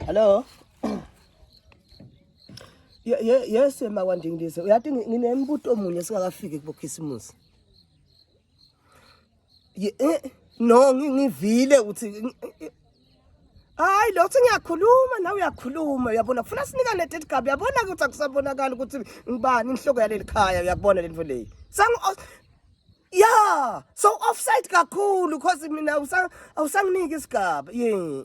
Hello. Ye ye yes makwandingilise. Uyathi nginembuto omunye singakafiki kubokhisimusi. Ye eh, no ngivile ukuthi Hayi lo uthi ngiyakhuluma nawe uyakhuluma uyabona kufuna sinikane leti gabi uyabona ukuthi akusabonakala ukuthi ngibani inhloko yaleli khaya uyakubona lento leyi. Sangu Yeah, so offside kakhulu because mina awusanginiki isigaba. Yeah.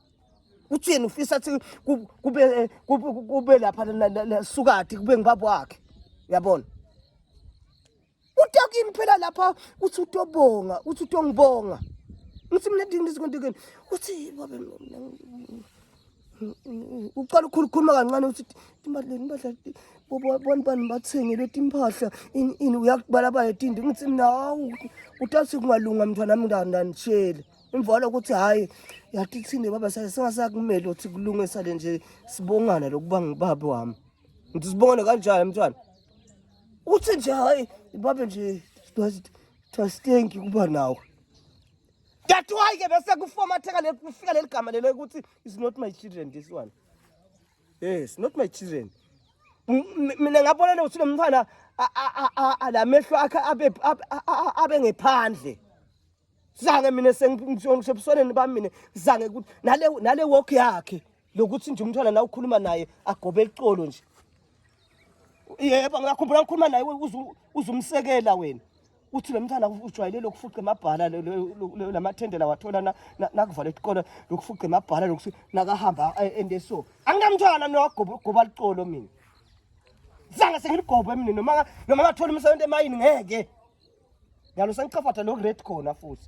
uthi yena ufisa athi kube eh, kube lapha sukati kube ngibaba wakhe yabona utakini phela lapha uthi utobonga uthi utongibonga ngithi mina ndingizikontekeni uthi babe uqala ukukhuluma kancane uthi imali impahla bobani bani bathengele timpahla ini ini uyakubalabala tindi ngithi nawu utathi kungalunga mntwana wami ndandanishele imvalo ukuthi hhayi yathi thini baba singasakumele ukuthi kulunge sale nje sibongane lokuba ngubaba wami ngithi sibongane kanjani mntwana uthi nje hhayi babe nje thastenki kuba nawe that why ke bese kufomatheka le kufika leli gama lelo ukuthi is not my children this one yes not my children mina ngabona ukuthi lo mntwana la mehlo akhe abe ngephandle zange mina sengibusoneni bami mina zange ukuthi nale nale walk yakhe lokuthi nje umntwana la ukhuluma naye agobe icolo nje yebo ngakhumbula ngikhuluma naye uzumsekela wena uthi lo mntana ujwayele lokufuqa emabhala la mathendela wathola nakuvala isikole lokufuqa emabhala lokuthi nakahamba ende so anginamntwana mina wagoba liqolo mina Zange sengilugobhe mina noma noma ngathola umsebenzi emayini ngeke. Ngalo sengiqafatha lo red khona futhi.